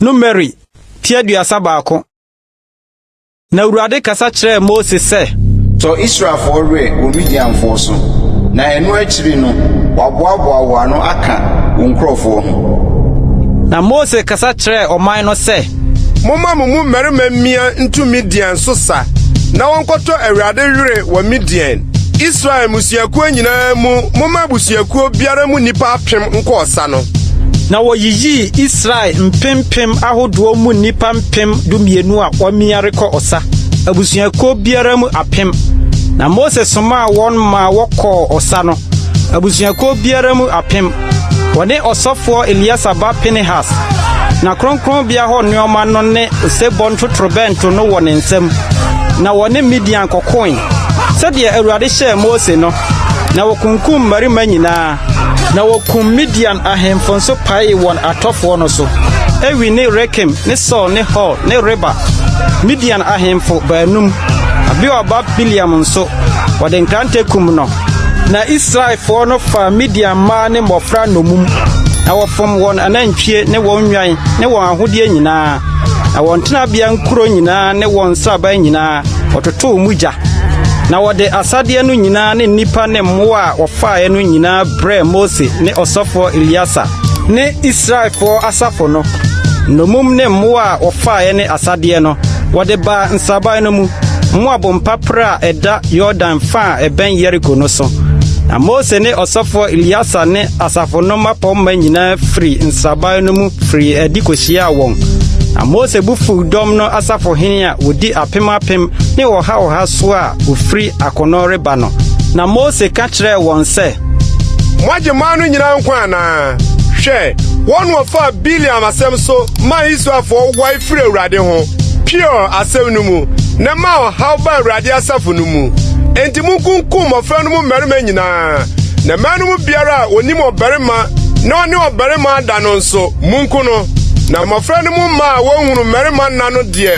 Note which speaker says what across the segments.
Speaker 1: Numeri ti aduasa baako Na Awurade kasa kyerɛɛ Mose sɛ. Tɔ Israelfoɔ
Speaker 2: werɛ wɔ Midianfoɔ so, na ɛno akyiri no wɔaboaboa wɔn ano aka wo nkurɔfoɔ ho. Na Mose kasa
Speaker 1: kyerɛɛ ɔman no sɛ. Momma mo mu
Speaker 3: mmarima mmea ntu Midian so sa na wɔnkɔtɔ Awurade werɛ wɔ Midian. Israel mmusuakuo nyinaa mu, momma abusuakuo biara mu nnipa apem nkɔ ɔsa no. Na wɔyiyii
Speaker 1: Israel mpempem ahodoɔ mu nnipa mpem dumienu a wɔamia rekɔ ɔsa, abusuakuo biara mu apem. Na Mose somaa wɔn maa wɔkɔɔ ɔsa no, abusuakuo biara mu apem. Wɔne ɔsɔfoɔ Eleasa ba Pinehas, na kronkronbea hɔ nneɛma no ne osebɔ ntotorobɛnto no wɔ ne nsam, na wɔne Midian kɔkoe, sɛdeɛ Awurade hyɛɛ Mose no, na wɔkunkum mmarima nyinaa, na wɔkum Midian ahemfo nso paee wɔn atɔfoɔ no so, Ewi ne Rekem ne Sur ne Hur ne Reba, Midian ahemfo baanum, Beor ba Bileam nso, wɔde nkrantɛ kum no. Na Israelfoɔ no faa Midian mmaa ne mmɔfra nnommum, na wɔfom wɔn anantwie ne wɔn nnwan ne wɔn ahodeɛ nyinaa, na wɔn tenabea nkuro nyinaa ne wɔn nsraban nyinaa, wɔtotoo mu gya. Na wɔde asadeɛ no nyinaa ne nnipa ne mmoa a wɔfaeɛ no nyinaa brɛɛ Mose ne ɔsɔfoɔ Eleasa. ne Israelfoɔ asafo no, nnommum ne mmoa a wɔfaeɛ ne asadeɛ no, wɔde baa nsraban no mu, Moab mpaperɛ a ɛda Yordan fã a ɛbɛn Yeriko no so. Na Mose ne ɔsɔfoɔ Eleasar ne asafo no mmapɔmma nyinaa firi nsraban no mu firii adi kɔhyiaa wɔn. Na Mose bo fuu dɔm no asafohene a wɔdi apem apem ne ɔha ɔha so a wɔfiri akono reba no. Na Mose ka kyerɛɛ wɔn sɛ. Moagye
Speaker 3: man no nyinaa nkwa anaa? Hwɛ, wɔn na wɔfaa Bileam asɛm so maa Israelfoɔ wae firii Awurade ho, Peor asɛm no mu, na ɛmaa ɔhaw baa Awurade asafo no mu. Enti monkunkum mmɔfra no mu mmarima nyinaa, na mmaa no mu biara a ɔnim ɔbarima na ɔne ɔbarima ada no nso, monku no. Na mmɔfra no mu mmaa a wɔnhunuu mmarima nna no deɛ,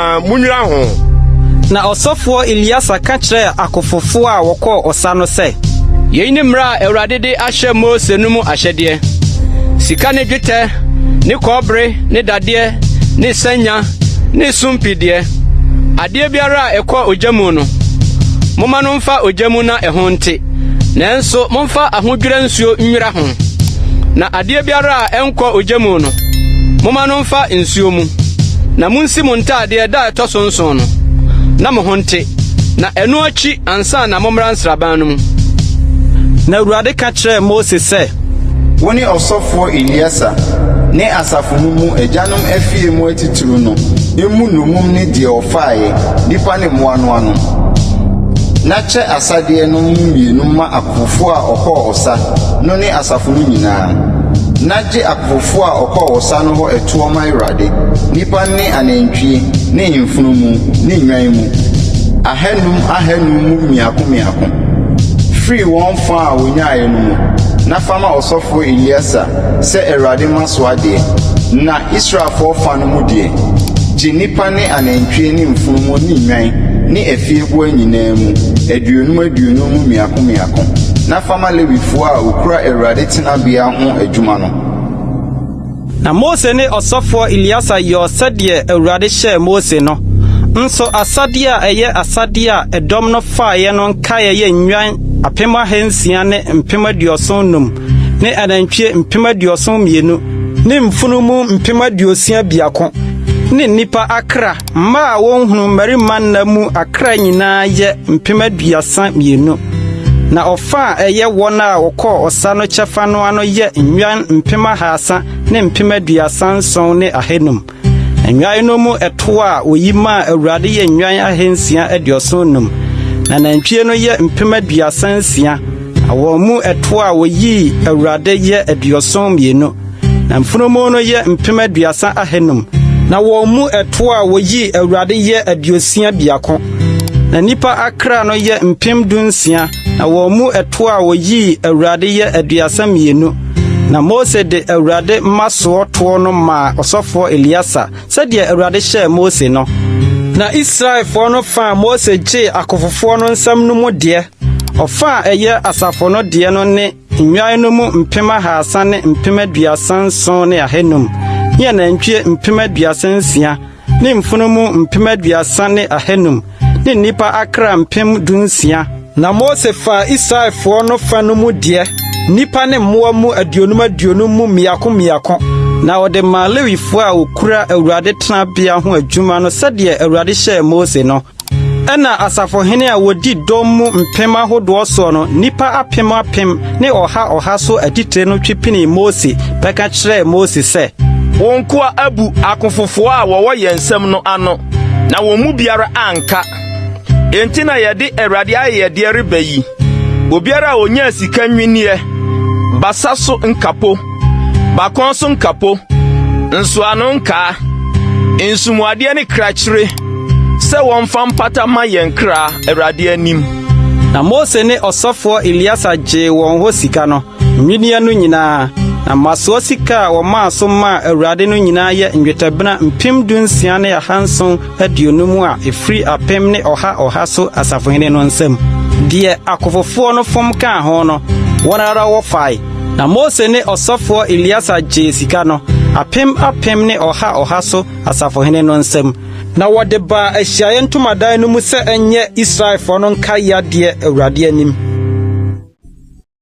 Speaker 3: Na munnwira ho. Na
Speaker 1: ɔsɔfoɔ Eleasar ka kyerɛɛ akofofoɔ a wɔkɔɔ ɔsa no sɛ. Yei ne mmara a
Speaker 4: Awurade de ahyɛ Mose no mu ahyɛdeɛ, Sika ne dwetɛ ne kɔbere ne dadeɛ ne sanya ne sumpii deɛ, adeɛ biara a ɛkɔ ogya mu no, momma no mfa ogya mu na ɛho nte. Nanso momfa ahodwira nsuo nnwira ho, na adeɛ biara a ɛnkɔ ogya mu no, momma no mfa nsuo mu. Na monsi mo ntadeɛ da a ɛtɔ so nson no, na mo ho nte, na ɛno akyi ansa na mommra nsraban no mu. Na
Speaker 1: Awurade ka kyerɛɛ Mose sɛ. Wo ne
Speaker 2: ɔsɔfoɔ Eleasa ne asafo no mu agyanom afie mu atitiriw no mmu nnommum ne deɛ wɔfaeɛ, nnipa ne mmoa no ano. Hyɛ asadeɛ no mu mmienu ma akofofoɔ a wɔkɔɔ ɔsa no ne asafo no nyinaa, na gye akofofoɔ a wɔkɔɔ ɔsa no hɔ ɛtoɔ ma Awurade, nnipa ne anantwie ne mfunumu ne nnwan mu, ahanum ahanum mu mmiako mmiako, firi wɔn fã a wɔnyaeɛ no mu, na fa ma ɔsɔfoɔ Eleasar sɛ Awurade mma so adeɛ. Na Israelfoɔ fã no mu deɛ, gye nnipa ne anantwie ne mfunumu ne nnwan ne afieboa nyinaa mu, aduonum aduonum mu mmiako mmiako, na fa ma Lewifoɔ a wɔkura Awurade tenabea ho adwuma no.
Speaker 1: Na Mose ne ɔsɔfoɔ Eleasa yɔɔ sɛdeɛ Awurade hyɛɛ Mose no, nso asadeɛ a ɛyɛ asadeɛ a ɛdɔm no faeɛ no nkaeɛ yɛ nnwan apem ahansia ne mpem aduɔson nnum ne anantwie mpem aduɔson mmienu ne mfunumu mpem aduosia biako. ne nnipa akra mma a wɔnhunu mmarima nna mu akra nyinaa yɛ mpem aduasa mmienu, na ɔfa a ɛyɛ wɔn a wɔkɔɔ ɔsa no kyɛfa no ano yɛ nnwan mpem ahaasa ne mpem aduasa nson ne ahanum. Nnwan no mu ɛtoɔ a wɔyi maa Awurade yɛ nnwan ahansia aduɔson num, na nantwie no yɛ mpem aduasa nsia, na wɔn mu ɛtoɔ a wɔyii Awurade yɛ aduɔson mmienu. Na mfunumu no yɛ mpem aduasa ahanum. Na wɔn mu ɛtoɔ a wɔyii Awurade yɛ aduosia biako. Na nnipa akra no yɛ mpem dunsia. Na wɔn mu ɛtoɔ a wɔyii Awurade yɛ aduasa mmienu. Na Mose de Awurade mmasoɔ toɔ no maa ɔsɔfoɔ Eleasa, sɛdeɛ Awurade hyɛɛ Mose no. Na Israelfoɔ no fa a Mose gyee akofofoɔ no nsam no mu deɛ, ɔfa a ɛyɛ asafo no deɛ no ne. Nnwan no mu mpem ahaasa ne mpem aduasa nson ne ahanum, ne anantwie mpem aduasa nsia, ne mfunumu mpem aduasa ne ahanum, ne nnipa akra mpem dunsia. Na Mose faa Israelfoɔ no fa no mu deɛ, nnipa ne mmoa mu aduonum aduonum mu mmiako mmiako, na ɔde maa Lewifoɔ a wɔkura Awurade tenabea ho adwuma no sɛdeɛ Awurade hyɛɛ Mose no. Ɛnna asafohene a wɔdi dɔm mu mpem ahodoɔ soɔ no, nnipa apem apem ne ɔha ɔha so atitire no twe penee Mose bɛka kyerɛɛ Mose sɛ, Wo nkoa
Speaker 5: abu akofofoɔ a wɔwɔ yɛn nsam no ano, na wɔn mu biara anka. Enti na yɛde Awurade ayɛyɛdeɛ reba yi, obiara a ɔnyaa sika nnwinneɛ, basa so nkapo, bakɔn so nkapo, nsoano nkaa, nsumu adeɛ ne krakyire, Sɛ wɔmfa mpata ma yɛn kra Awurade anim. Na Mose
Speaker 1: ne ɔsɔfoɔ Eleasa gyee wɔn hɔ sika no, nnwinneɛ no nyinaa, na mmasoɔ sika a wɔmaa so maa Awurade no nyinaa yɛ nnwetɛbena mpem dunsia ne ahanson aduonum a ɛfiri apem ne ɔha ɔha so asafohene no nsam. Deɛ akofofoɔ no fom kaa ho no, wɔn ara wɔfae. Na Mose ne ɔsɔfoɔ Eleasa gyee sika no, apem apem ne ɔha ɔha so asafohene no nsam. Na wɔde baa ahyiaeɛ ntomadan no mu sɛ ɛnyɛ Israelfoɔ no nkaeɛ adeɛ Awurade anim.